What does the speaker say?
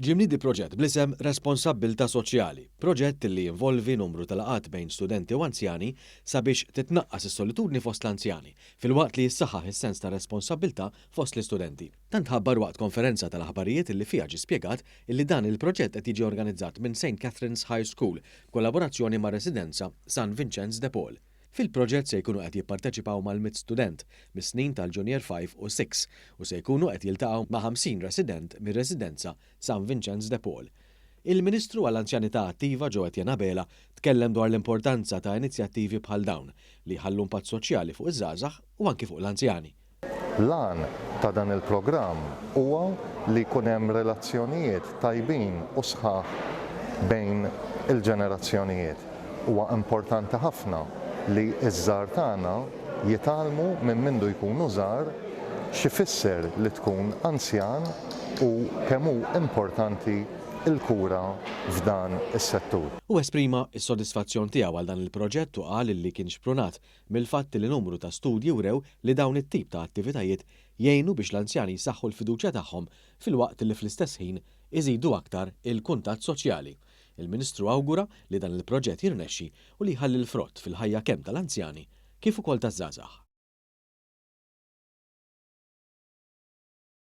Ġie mniedi proġett bl-isem Responsabbiltà Soċjali, proġett li jinvolvi numru ta' laqgħat bejn studenti u anzjani sabiex titnaqqas is-solitudni fost l-anzjani, filwaqt li jissaħħaħ is-sens ta' responsabbiltà fost l-istudenti. Dan tħabbar waqt konferenza tal-aħbarijiet li fiha ġie spjegat li dan il-proġett qed jiġi organizzat minn Saint Catherine's High School b'kollaborazzjoni mar-Residenza San Vinċenz de Paul. Fil-proġett se jkunu qed jipparteċipaw mal-mitt student mis-snin tal-Junior Five u Six u se jkunu qed jiltaqgħu ma' 50 resident mir-Residenza San Vinċenz de Paul. Il-Ministru għall-Anzjanità Attiva Joe Etienne Abela tkellem dwar l-importanza ta' inizjattivi bħal dawn li jħallu mpatt soċjali fuq iż-żgħażagħ u anki fuq l-anzjani. L-għan ta' dan il-programm huwa li jkun hemm relazzjonijiet tajbin u sħaħ bejn il-ġenerazzjonijiet. Huwa importanti ħafna li ż-żgħar tagħna jitgħallmu minn mindu jkunu żgħar x'ifisser li tkun anzjan u kemm hu importanti l-kura f'dan is-settur. Hu esprima s-sodisfazzjon tiegħu għal dan il-proġett u qal li kien xprunat mill-fatt li numru ta' studji wrew li dawn it-tip ta' attivitajiet jgħinu biex l-anzjani jsaħħu l-fiduċja tagħhom filwaqt li fl-istess ħin iżidu aktar il-kuntatt soċjali. Il-Ministru awgura li dan il-proġett jirnexxi u li jħalli l-frott fil-ħajja kemm tal-anzjani kif ukoll taż-żgħażagħ.